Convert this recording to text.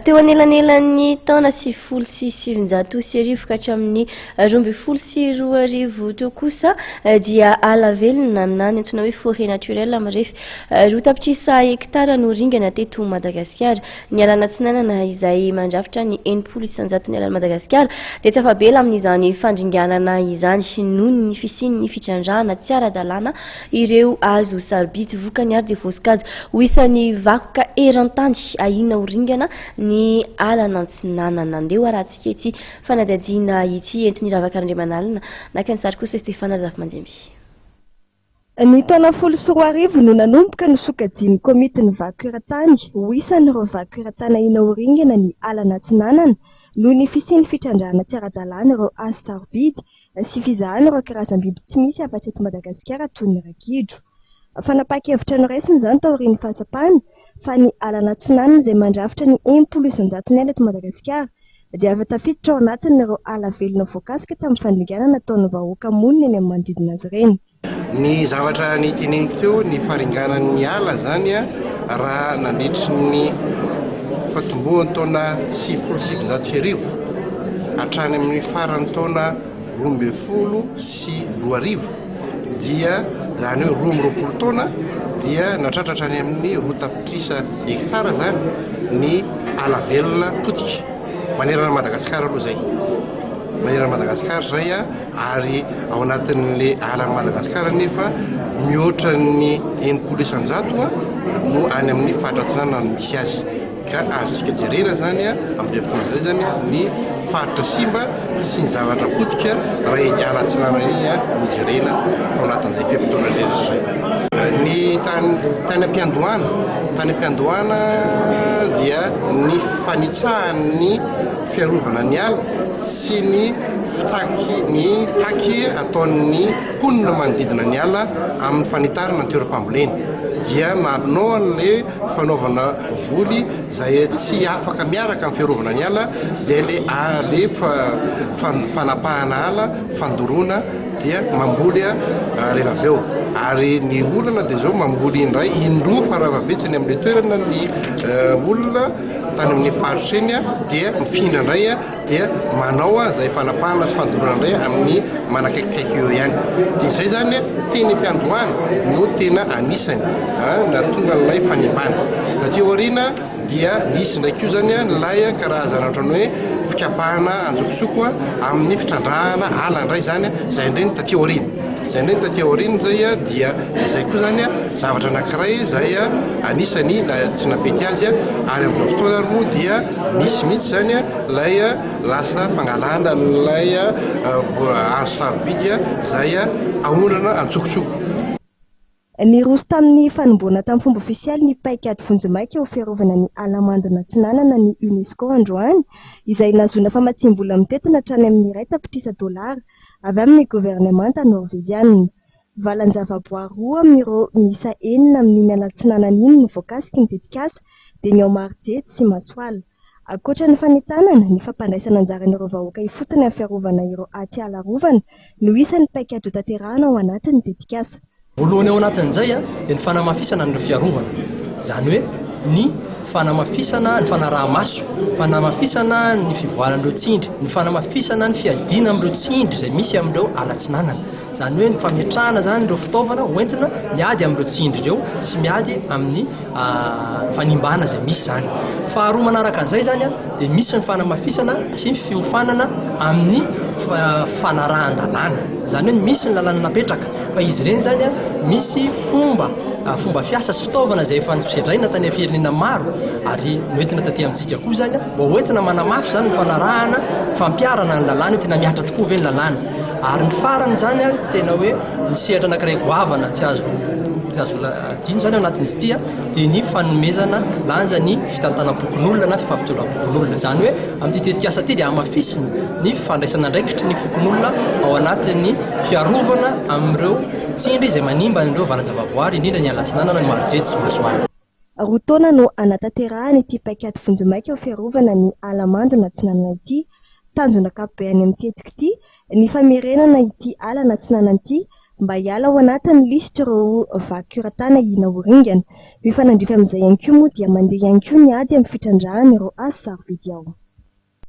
Teo anelanelan'ny taona sivifolo sy sivinjato sy arivo ka hatramin'ny roa ambin'ny folo sy roa arivo teo kosa dia ala velona na ny antsoina hoe forêt naturelle mirefy roa tapitrisa hektara no ringana teto Madagasikara. Ny alana atsinanana izay mandrafitra ny enimpolo isanjaton'ny alan'i Madagasikara dia tsy afa-bela amin'izany fandringanana izany noho ny fisian'ny fitrandrahana tsy ara-dalàna Ireo azo sarobidy vokany ary dia voasokajy ho isan'ny vakoka eran-tany ahiana ho ringana ny ala an'Antsinanana. Andeha ho arahantsika ity fanadihadiana ity entin'i Ravaka Randriamanalina. Naka ny sary kosa i Stéphane Razafimanjemy. Ny taona folo sy roa arivo no nanomboka ny sokajian'ny Komitin'ny Vakoka Eran-tany ho isan'ireo vakoka eran-tany ahiana ho ringana ny ala an'Atsinanana noho ny fisian'ny fitrandrahana tsy ara-dalàna ireo azo sarobidy sy fizahana ireo karazam-biby tsy misy afa-tsy eto Madagasikara toy ny ragidro. Fanapahan-kevitra noraisina izany taorian'ny fahatsapana fa ny alan'Atsinanana izay mandrafitra ny enimpolo isan-jaton'ny ala eto Madagasikara dia efa tafiditra ao anatin'ireo ala velona voakasika tamin'ny fandringanana nataon'ny vahoaka monina eny amin'ny manodidina azy ireny. Ny zavatra niteneniko teo, ny faringanan'ny ala izany raha nandritry ny fahatombohan'ny taona sivifolo sy sivinjato sy arivo hatrany amin'ny faran'ny taona roa ambin'ny folo sy roa arivo dia izany hoe roa amby roapolo taona dia natratra hatrany amin'ny roa tapitrisa hekitara izany ny ala velona potika manerana an'i Madagasikara aloha izay, manerana an'i Madagasikara izay a. ary ao anatin'le ala Madagascar nefa mihoatra ny enimpolo isan-jato no any amin'ny faritra atsinanana no misy azy ka azontsika jerena zany a amin'izay fotoana izay zany a ny faritra simba sy ny zavatra potika raha eny ala atsinanana eny a no jerena tao anatin'izay fe-potoana rehetra zay ny tany tany am-piandohana tany am-piandohana dia ny fanitsahan'ny fiarovana ny ala sy ny fitaky ny taky ataon'ny mponina manodidina ny ala amin'ny fanitarana ny toeram-pamboleny dia marina an'le fanaovana voly izay tsy afaka miaraka amin'ny fiarovana ny ala dia le ale fanapahana ala fandoroana dia mamboly rehefa avy eo ary ny olana dia zao mamboly indray indroa faravavetsany amin'ny toerana ny olona tany amin'ny faritra iny dia mifindra indray dia manao izay fanapahana sy fandoroana indray amin'ny manakaikikaiky eo ihany dia izay zany teny am-piandohana no tena anisany nahatonga an'ilay fanimbana aty aoriana dia nisy indray koa zany ilay karazana ohatran'ny hoe fikapahana anjokosoko amin'ny fitrandrahana ala indray zany izay indray ny taty aoriana Izay indray ny taty aoriana izay dia izay koa izany zavatra anankiray izay anisany tsy nampety azy ary amin'izao fotoana ary moa dia misy mihitsy izany ilay lasa fangalana an'ilay hazo sarobidy izay aondrana an-tsokotsoko. Niroso tamin'ny fanomboana tamin'ny fomba ofisialy ny paikady vonjimaika ho fiarovana ny ala mandona atsinanana ny UNESCO androany, izay nahazoana famatsiam-bola mitentina hatrany amin'ny iray tapitrisa dolara avy amin'ny governemanta Norveziana. Valan-javaboary roa amin'ireo miisa enina amin'iny ala atsinanana iny no voakasiky ny tetikasa, dia ny ao Marojejy sy Masoala. Ankoatra ny fanentanana, ny fampandraisana anjaran'ireo vahoaka ifotony amin'ny fiarovana ireo atiala arovana no isan'ny paikady hotanterahana ao anatin'ny tetikasa. Voalohany ao anatin'izay dia ny fanamafisana an'ireo fiarovana, izany hoe ny fanamafisana ny fanaraha-maso, fanamafisana ny fivoaran'ireo tsindry, ny fanamafisana ny fiadiana amin'ireo tsindry izay misy amin'ireo ala atsinanana, izany hoe ny fametrahana izany ireo fitaovana hoentina miady amin'ireo tsindry ireo sy miady amin'ny fanimbana izay misy izany. Faharoa manaraka an'izay izany dia misy ny fanamafisana sy ny fiofanana amin'ny fanarahan-dalàna. Izany hoe misy ny lalàna napetraka fa izy ireny izany misy fomba fomba fiasa sy fitaovana izay efa nosedraina tany amin'ny firenena maro ary noentina taty amintsika koa izany mba hoentina manamafy izany ny fanarahana fampiharana ny lalàna hoe tena mihatra tokoa ve ny lalàna. Ary ny farany izany tena hoe ny sehatra anankiray goavana tsy azo tsy azo la-. Dino izany ao anatin'izy ity dia ny fanomezana lanja ny fitantanam-pokonolona na fifampitondram-pokonolona. Izany hoe amin'ity tetikasa ity dia hamafisina ny fandraisan'andraikitry ny fokonolona ao anatin'ny fiarovana amin'ireo tsindry izay manimba an'ireo valan-javaboary, indrindra ny alatsinanana, ny marojejo sy masoala. Roa taona no hanatanterahana ity paikady vonjimaika ho fiarovana ny ala mando an'atsinanana ity. Tanjona ankapobe any amin'ny tetika ity ny famerenana ity ala an'atsinanana ity mba hiala ao anatin'ny lisitr'ireo vaky kioratana i Naoringana. Mifanandrify amin'izay ihany koa moa dia mandeha ihany koa ny ady amin'ny fitrandrahana ireo hazo sarobidy ao.